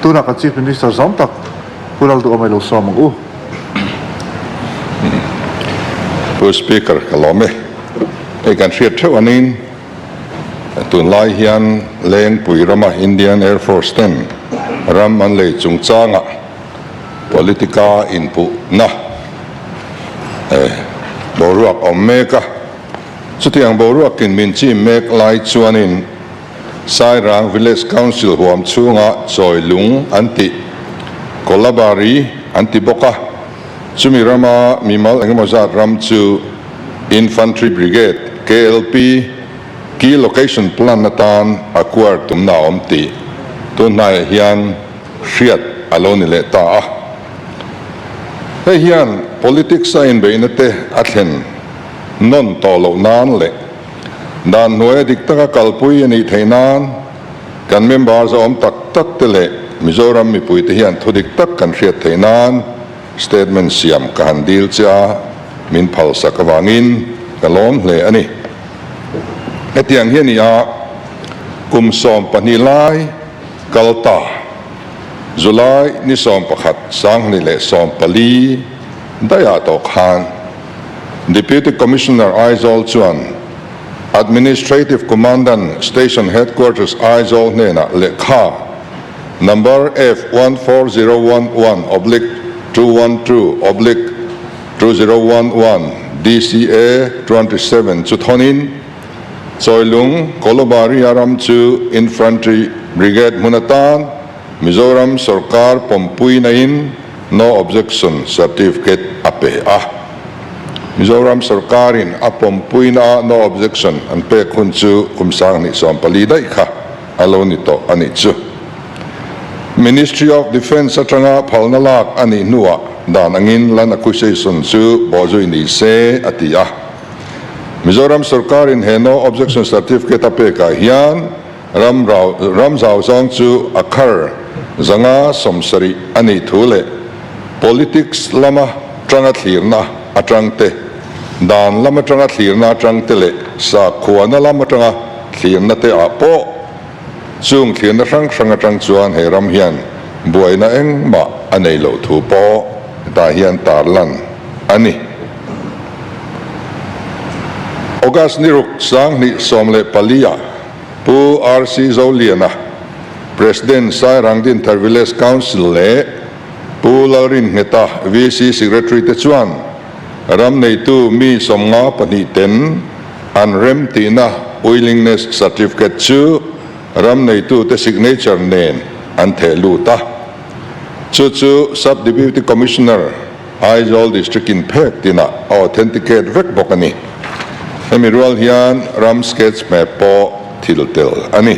Tunah kan Chief Minister zawng tak pu Lalduh a mailo suam ang u. Pu Speaker ka lawm e, hei kan hriat theuh a nin tunlai hian Lengpui rama Indian Air Force ten ram an lei chungchanga politica inpuhna boruak awm mek a, chutiang boruakin min chim mek lai chuanin, Sairang Village Council huam chhunga Chawilung an tih, Kolabari an ti bawk a, chumi rama mimal engemaw zat ram chu Infantry Brigade, KLP, Key Location Plan atan a kuar tumna a awm tih tunhnaiah hian hriat a lo ni leh ta a. Hei hian politics-a inbeihna te a thlen nawn tawh loh nan leh, Dan hnuaia dik taka kalpui a nih theih nan kan member zawm tak tak te leh Mizoram mipui te hian thu dik tak kan hriat theih nan statement siam ka han dil che a, min phalsak avangin ka lawm hle a ni. Hetiang hi a ni a, kum sawm pahnih lai kal ta, July ni sawm pakhat, Sanghni leh sawm pali daih ah tawh khan, Deputy Commissioner Aizawl chuan Administrative Commandant Station Headquarters Aizawl hnenah lehkha number F one four zero one one oblique two one two oblique two zero one one DCA twenty seven chu thawnin Chawilung Kolobaria ram chu Infantry Brigade hmun atan Mizoram sawrkar pawmpuina in No Objection Certificate a pe a. Mizoram Sawrkarin a pawmpuina a No Objection an pek hun chu kum sanghnih sawm pali daih kha a lo ni tawh a nih chu. Ministry of Defence atanga phalna lak a nih hnuah dan angin Land Acquisition chu bawhzui ni se a ti a. Mizoram Sawrkarin he No Objection Certificate a pekah hian, Ram rau ram zau zawng chu a khar zanga sawmsarih a nih thu leh politics lama tanga thlirna atang te, dan lama tanga thlirna atang te leh sakhuana lam atanga thlirna te ah pawh chung thlirna hrang hrang atang chuan he ram hian buaina engmah a nei loh thu pawh hetah hian tarlan a ni. August ni ruk sanghnih sawm leh pali ah Pu RC Zoliana, President Sairang Dinthar Village Council leh Pu Lalrinngeta, VC Secretary te chuan ram neitu mi sawmnga pahnih ten an rem tihna Willingness Certificate chu ram neitu te signature nen an theh lut a. Chu chu Sub-Deputy Commissioner, Aizawl District-in phek tina a authenticate vek bawk a ni. Hemi rual hian ram sketch hmeh pawh thil tel a ni.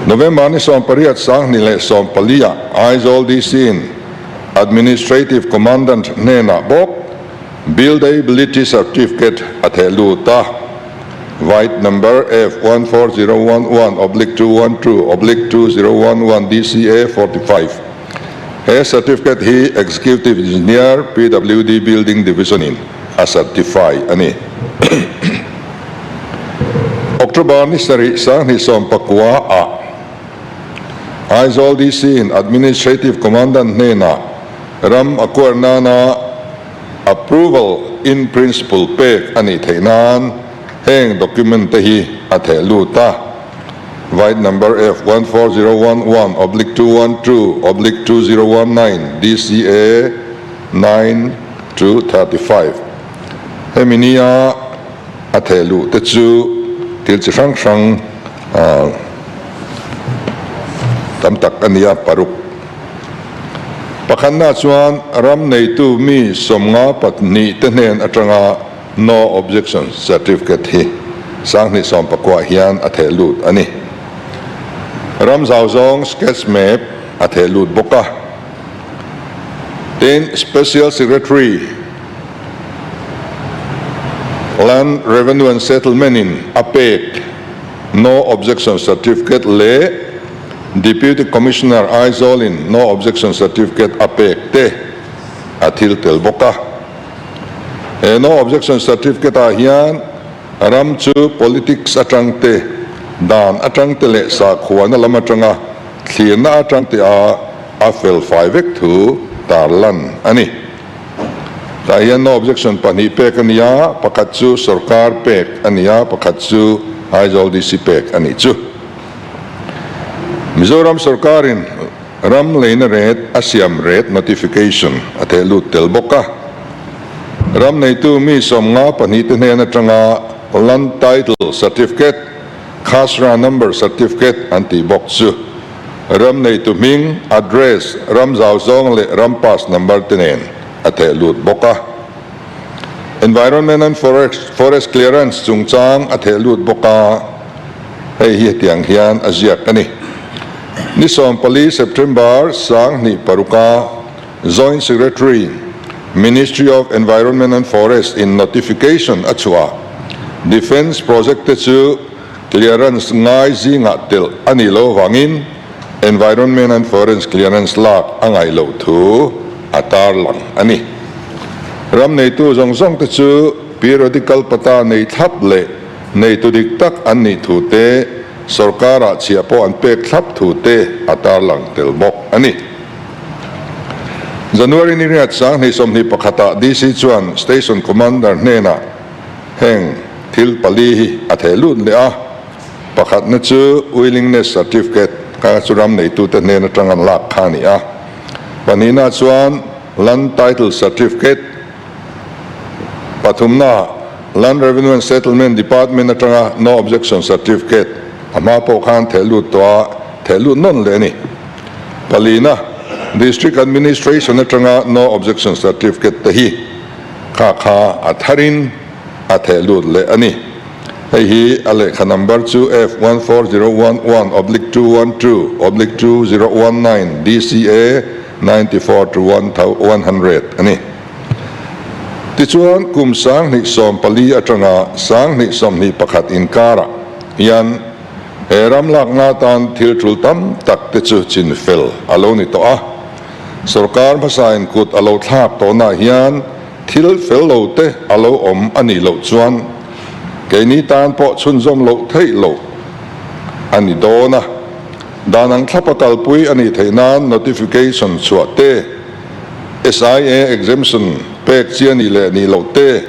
November ni sawm pariat sang hnih leh sawm paliah Aizawl DC-in Administrative Commandant hnenah bawk Buildability Certificate a theh lut a, Vite Number F one four zero one one oblique two one two oblique two zero one one DCA forty five. He certificate hi Executive Engineer, PWD Building Division in a certify a ni. October ni sarih sanghnih sawm pakua ah Aizawl DC in Administrative Commandant hnenah ram a kuar nana Approval in Principle pek a nih theih nan heng document te hi a theh lut a. Vite number F one four zero one one oblique two one two oblique two zero one nine DCA nine to thirty five hemi nia a theh luh te chu thil chi hrang hrang ah tam tak a nia paruk pakhatna chuan ram neitu mi sawmnga pahnih te hnen atanga No Objection Certificate hi Sanghnih sawmpakua hian a theh lut a ni. Ramzau zawng sketch map a theh lut bawk a, tin Special Secretary Land Revenue and Settlement in a pek No Objection Certificate leh Deputy Commissioner Aizawl in No Objection Certificate a pek te a thil tel bawk a. He No Objection Certificate ah hian ram chu politics atangte, dan atangte leh sakhuana lam atanga thlirna atangte a a felfai vek thu tar lan a ni. Tah hian No Objection pahnih pek a ni a, pakhat chu sawrkar pek a ni a, pakhat chu Aizawl DC pek a nih chu. Mizoram sawrkarin. Ram leina ret a siam ret notification a theh lut tel bawk a. Ram neitu mi sawmnga pahnih te hnen atanga Land Title Certificate, Khasra Number Certificate an tih bawk chu ram neitu hming, address, ram zau zawng leh ram pass number te nen a theh lut bawk a. Environment and Forest Clearance chungchang a theh lut bawk a. Hei hi hetiang hian a ziak a ni, Ni sawm pali, September, sang hnih paruk a Joint Secretary, Ministry of Environment and Forest in notification a chhuah a, Defence project te chu clearance ngai zingah telh a nih loh avangin Environment and Forest clearance lak a ngaih loh thu a tar lang a ni. Ram neitu zawng zawng te chu periodical pata nei thlap leh. Neitu dik tak an nih thu te, sorkara chhia pawh an pek thlap thu te a tarlang tel bawk a ni. January ni riat sang hneihsawmhnih pakhatah DC chuan Station Commander hnenah heng thil pali hi a theh lut leh a, pakhatna chu Willingness Certificate ka chu ram neitute hnen atang an lak kha a ni a, pahnihna chuan Land Title Certificate, Pathumnaah, Land Revenue and Settlement Department atanga No Objection Certificate a hma pawh khan thehlût tua thehlût nawn leh a ni. Palina, District Administration atanga No Objection Certificate te hi kha kha a tharin a thehlût leh a ni. Hei hi a lehkha number chu F one four zero one one oblique two one two oblique two zero one nine DCA, ninety four to one thou one hundred a ni. Tichuan kum sanghnih sawm pali atanga sanghnih sawmhnih pakhat inkarah hian he ram lakna atan thil ṭul tam tak te chu chin fel a lo ni tawh a, sorkar hmasain kut a lo thlak tawhnaah hian thil fel lo te a lo awm a nih loh chuan keini tan pawh chhunzawm loh theih loh a ni dawn a. Dan an thlap a kalpui a nih theih nan notification chhuah te, SIA exemption pek chiah nih leh nih loh te,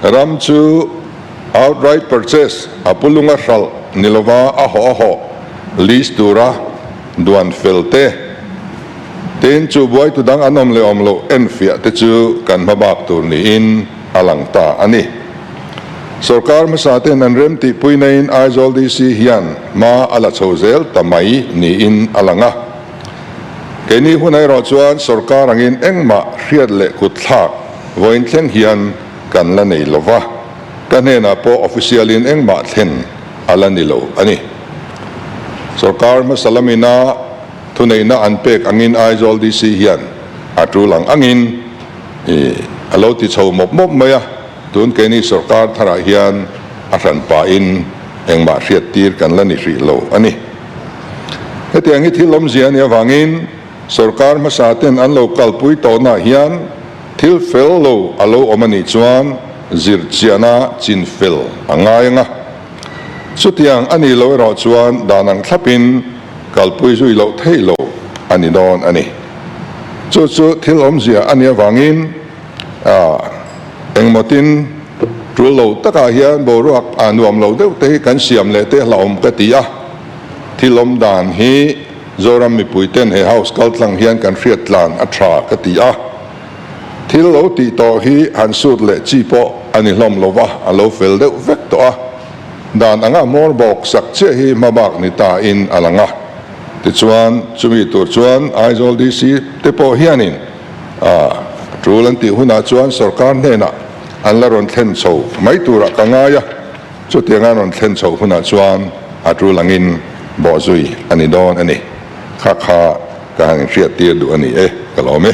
ram chu outright purchase a pu lung a hralh ni lova a hawh a hawh lease tura duan fel te, tin chu buaitu dang an awm leh awm loh enfiah te chu kan hma bak tur niin a lang ta a ni. Sorkar hmasate'n an rem tih pui naiin Aizawl DC hian hma a la chho zel ta mai niin a lang a. Keini hun erawh chuan sorkar angin engmah hriat leh kut thlak vawiin thleng hian kan la nei lo va, ka hnenah pawh official-in engmah thlen a la ni lo a ni. Sorkar hmasa lamina thuneihna an pek angin Aizawl DC hian a tul ang angin a lo ti chho mawp mawp mai a. Tun keini sorkar tharah hian a hran pahin engmah hriat tir kan la ni hrih lo a ni. Hetiang hi thil awmzia a nih avangin sorkar hmasa ten an lo kalpui tawhnaah hian thil fel lo a lo awm a nih chuan zir chiahna chin fel a ngai ang a. Chutiang a nih loh erawh chuan dan ang thlapin kalpui zui loh theih lo a ni dawn a ni. Chu chu thil awmzia a nih avangin. A, engmawtin tul lo takah hian boruak a nuam lo deuh te hi kan siam leh te hlauhawm ka ti a, thil awm dan hi Zoram mipui ten he house kal tlang hian kan hriat tlan a tha ka ti a, thil lo tih tawh hi han sut leh chi pawh a ni hlawm lo va, a lo fel deuh vek tawh a, dan anga hmawr bawk sak chiah hi hma bak ni ta in a lang a, tichuan chumi tur chuan Aizawl DC te pawh hianin. A tul an tih hunah chuan sorkar hnenah an la rawn thlen chho mai turah ka ngai a, chutiang an rawn thlen chho hunah chuan a tul angin bawh zui a ni dawn a ni. Kha kha ka han inhriat tir duh a ni e, ka lawm e.